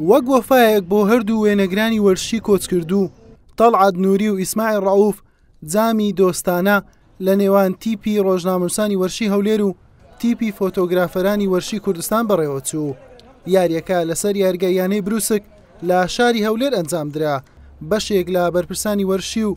وەک وەفایەک بۆ هەردوو وێنەگرانی وەرشی کۆچکردوو تەڵعات نووری و ئیسماعیل ڕەوف جامی دۆستانە لە نێوان تیپی ڕۆژنامەنووسانی وەرشی هەولێر و تیپی فۆتۆگرافەرانی وەرشی کوردستان بەڕێوەچوو یاریەکە لەسەر یارگای یانەی بروسک لە شاری هەولێر ئەنجام درا بەشێک لە بەرپرسانی وەرشی و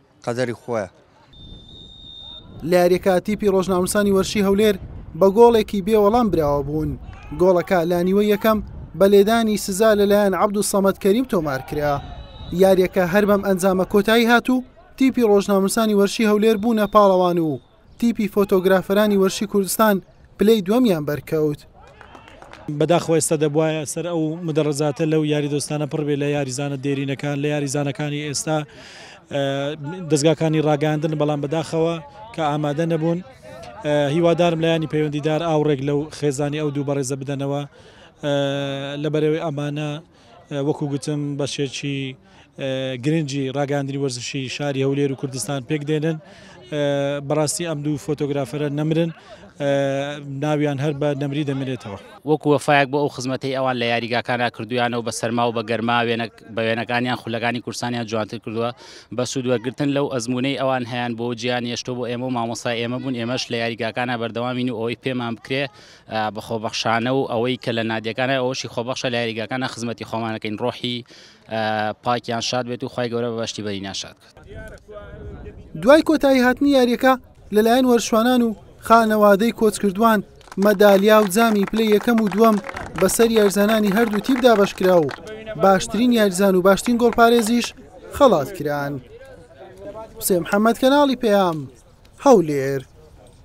قەدەری خۆیە. لە یاریەکە تیپی ڕۆژناموسانی وەرشی هەولێر بە گۆڵێکی بێ وەڵام براوە بوون گۆڵەکە لانیوە یەکەم بە لێدانی سزا لەلایەن عبد و سەمەد کەریم تۆمار کرا یاریەکە هەر بەم ئەنجامە کۆتایی هات و تیپی ڕۆژناموسانی وەرشی هەولێر بوونە پاڵەوان و تیپی فۆتۆگرافەرانی وەرشی کوردستان پلەی دووەمیان بەرکەوت. بەداخەوە ئێستا دەبوایە سەر ئەو مدەڕەزاتە لەو یاری دۆستانە پڕ بێت لە یاریزانە دێرینەکان لە یاریزانەکانی ئێستا دەستگاکانی ڕاگەاندن بەڵام بەداخەوە کە ئامادە نەبوون هیوادارم لایانی پەیوەندیدار ئاوڕێک لەو خێزانی ئەو دوو بەڕێزە بدەنەوە لە بەرەوەی ئەمانە وەکو گوتم بەشێکی گرنگی ڕاگەاندنی وەرزشی شاری هەولێر و کوردستان پێک دێنن بەڕاستی ئەم دوو فۆتۆگرافەرە نەمرن ناویان هەر بە نەمری دەمێنێتەوە وەکو وەفایەک بۆ ئەو خزمەتەی ئەوان لە یاریگاکانە کردویانە و بە سەرما و بە گەرما وێنە بە وێنەکانیان خولەکانی کورسانیان جوانتر کردووە بە سوود وەرگرتن لەو ئەزمونەی ئەوان هەیان بۆ جیان یشتۆ بۆ ئێمە و مامۆستا ئێمە بوون ئێمەش لە یاریگاکانە بەردەوامین و ئەوەی پێمان بکرێ بە خۆبەخشانە و ئەوەی کە لە نادیەکانە ئەوەشی خۆبەخشە لە یاریگاکانە خزمەتی خۆمانەکەین ڕۆحی پاکیان شاد بێت و خی گەورە بەشتی بەری ناشاد دوای کۆتایی هاتنی یاریەکە لەلایەن وەرشوانان و خانەوادەی کۆچکردوان مەدالیا و جامی پلە یەکەم و دووەم بەسەر یارزانانی هەردوو تیپ دابشکرا و باشترین یارزان و باشترین گۆڵپارێزیش خەڵات کران حسێن محەممەد کەناڵی پەیام هەولێر